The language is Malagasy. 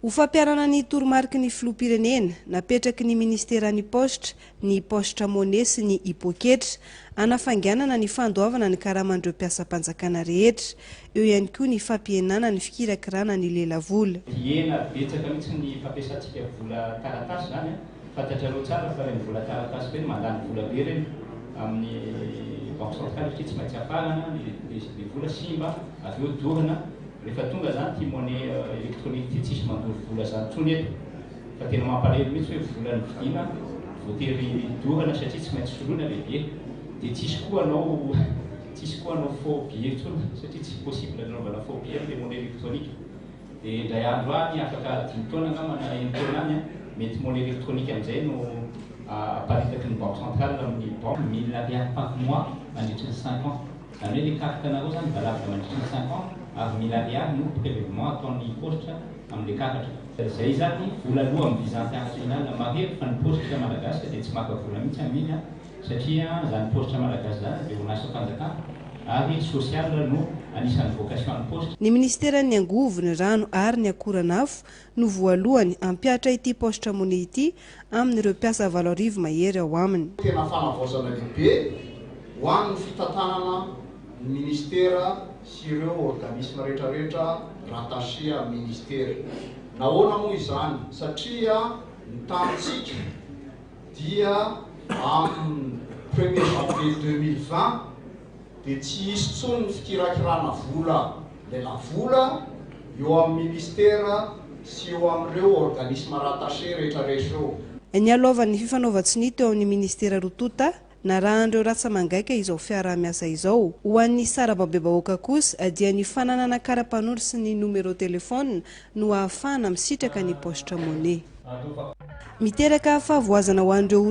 Ho fampiharana ny toromariky ny Filoham-pirenena, napetraky ny Ministeran'ny Paositra ny Paositra Money sy ny Hipoketra, hanafainganana ny fandoavana ny karaman'ireo mpiasam-panjakana rehetra. Eo ihany koa ny fampihenana ny fikirakirana ny lelavola. Dihena betsaka mihitsy ny fampiasantsika vola taratasy izany an! Fantatrareo tsara fa ireny vola taratasy ireny mandany vola be ireny amin'ny banque centrale satria tsy maintsy afarana ny vola, simba, avy eo dorana. Rehefa tonga zany ty monnaie électronique ty tsisy mandoro vola zany tsony eto fa tena mampalelo mitsy hoe vola ny vidina voatery dorana satria tsy maintsy soloina le billet de tsisy koa anao tsisy koa anao faux billet tsony satria tsy possible nanaovana faux billet amle monnaie électronique de indray andro any afaka dimy taona angamba na eny taona any mety monnaie électronique amizay no aparitaky ny banque centrale aminy banque mille ariary par mois mandritry ny cinq ans Zany hoe le carte anareo zany valable mandritra ny cinq ans avy mille ariary no prelevement ataon'ny paositra amle karatra. Zay zany vola aloa am visa international mahery fa ny paositra malagasy de tsy maka vola mihitsy aminy a satria zany paositra malagasy zany de orinasa panjakana ary social no anisany vocation ny paositra. Ny ministeran'ny angovo, ny rano ary ny akoran'afo no voalohany hampihatra ity paositra Money ity amin'ireo mpiasa valo arivo mahery ao aminy. Tena fanavaozana lehibe ho an'ny fitantanana ny Ministera sy ireo organismes rehetra rehetra rattaché amin'ny Ministera. Nahoana moa izany? Satria ny tanintsika dia amin'ny premier janvier deux mille vingt, dia tsy hisy intsony ny fikirakirana vola lelavola eo amin'ny Minisitera sy eo amin'ireo organismes rattachés rehetra rehetra eo. Nialohavan'ny fifanaovan-tsonia teo amin'ny Minisitera roa tonta, narahan'ireo ratsa-mangaika izao fiaraha-miasa izao. Ho an'ny sarababebahoaka kosa dia ny fananana kara-panondro sy ny nomerô telefona no ahafahana misitraka ny paositra money. Miteraka fahavoazana ho an'ireo